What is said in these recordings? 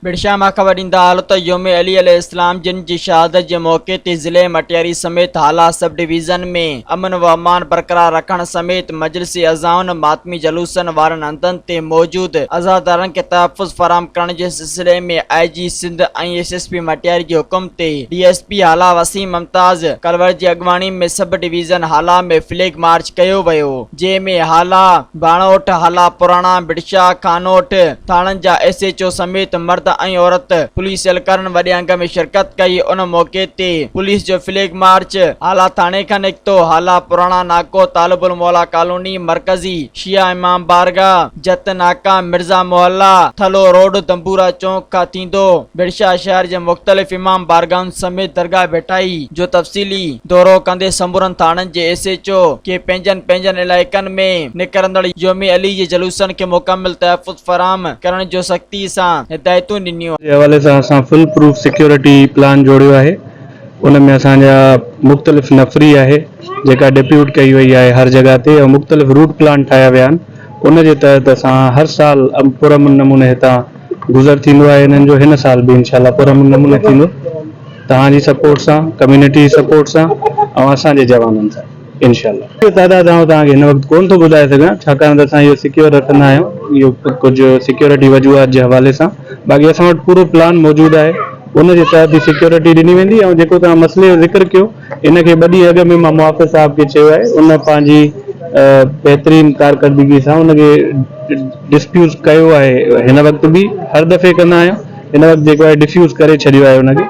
پڻشاهه مان خبر ڏيندا هلو ته يوم علي عليه السلام جن جي شهادت جي موقعي تي ضلعي مٽياري سميت هالا سب ڊويزن ۾ امن و امان برقرار رکڻ سميت مجلس عزائن ماتمي جلوسن وارن هنڌن تي موجود عزادارن کي تحفظ فراهم ڪرڻ جي سلسلي ۾ I G Sindh ۽ S S P Matiari جي حڪم تي D S P Hala Waseem Mumtaz Kalwar جي اڳواڻي ۾ sub division Hala ۾ flag march ڪيو ويو جنهن ۾ هالا، ڀاڻوٺ، هالا پراڻا، بڊشاهه، خانوٺ ٿاڻن جا ايس ايڇ او سميت مرد ۽ عورت پوليس اهلڪارن وڏي انگ ۾ شرڪت ڪئي ان موقعي تي پوليس جو فليگ مارچ هالا ٿاڻي کان نڪتو هالا پراڻا ناڪو طالب الموليٰ ڪالوني مرڪزي شيعه امام بارگاهه جت ناڪا، مرزا محلا، ٿلهو روڊ، دنبورا چونڪ کان ٿيندو بڙشاهه شهر جي مختلف امام بارگاهن سميت درگاهه ڀٽائي جو تفصيلي دورو ڪندي سمورن ٿاڻن جي ايس ايڇ او کي پنهنجن پنهنجن علائقن ۾ نڪرندڙ يوم علي جي جلوسن کي مڪمل تحفظ فراهم ڪرڻ جو سختي سان هدايتون ڏنيون. جي حوالي سان اسان فول پروف سيڪيورٽي پلان جوڙيو آهي ان ۾ اسان جا مختلف نفري آهي جيڪا ڊيپيوٽ ڪئي وئي آهي هر جڳهه تي ۽ مختلف روٽ پلان ٺاهيا ويا آهن. ان جي تحت اسان هر سال پر امن نموني هتان گذر ٿيندو آهي انهن جو هن سال به انشاء الله پر امن نموني ٿيندو توهان جي سپورٽ سان ڪميونٽي جي سپورٽ سان ۽ اسان جي جوانن سان انشاء الله. جو تعداد آئون توهان کي هن وقت ڪون ٿو ٻڌائي سگهان ڇاڪاڻ ته اسان اهو سيڪيور رکندا آهيون اهو ڪجهه سيڪيورٽي وجوهات جي حوالي سان باقي اسان وٽ پورو پلان موجود آهي ان جي تحت ئي سيڪيورٽي ڏني ويندي ۽ جيڪو توهان مسئلي جو ذڪر ڪيو ان کي ٻه ڏينهن اڳ ۾ مان محافظ صاحب کي چيو آهي ان پنهنجي بهترين ڪارڪردگي سان ان کي ڊسپيوز ڪيو آهي هن وقت به هر دفعي ڪندا آهيون هن وقت جيڪو آهي ڊفيوز ڪري ڇڏيو آهي ان کي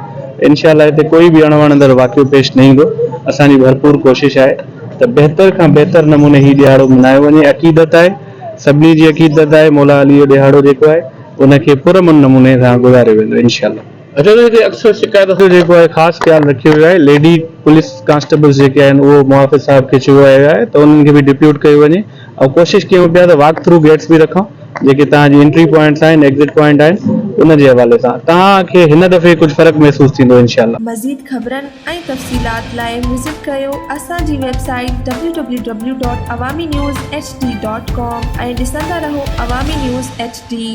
انشاء الله هتي ڪوئي به اڻوڻندڙ واقعو پيش نه ايندو اسان جي ڀرپور ڪوشش آهي ته بهتر کان بهتر نموني هي ڏهاڙو ملهايو وڃي عقيدت آهي سڀني جي عقيدت آهي مولا علي جو ڏهاڙو جيڪو آهي ان کي پرامن نموني سان گذاريو ويندو انشاء الله. اجهوري تي اڪثر شڪايت جو جيڪو آهي خاص خيال رکيو ويو آهي ليڊي پوليس ڪانسٽيبلز جيڪي آهن اهو محافظ صاحب کي چيو ويو آهي ته انهن کي به ڊپيوٽ ڪيو وڃي ۽ ڪوشش ڪيون پيا ته واڪ ٿرو گيٽس به رکون جيڪي توهان جي انٽري پوائنٽس آهن ايگزٽ پوائنٽ آهن ان جي حوالي سان توهان کي هن دفعي ڪجهه فرق محسوس ٿيندو انشاء الله. مزيد خبرن ۽ تفصيلات لاء وزٽ ڪريو اسان جي website W W W dot Awami news H D dot com ۽ ڏسندا رهو عوامي نيوز ايڇ ڊي.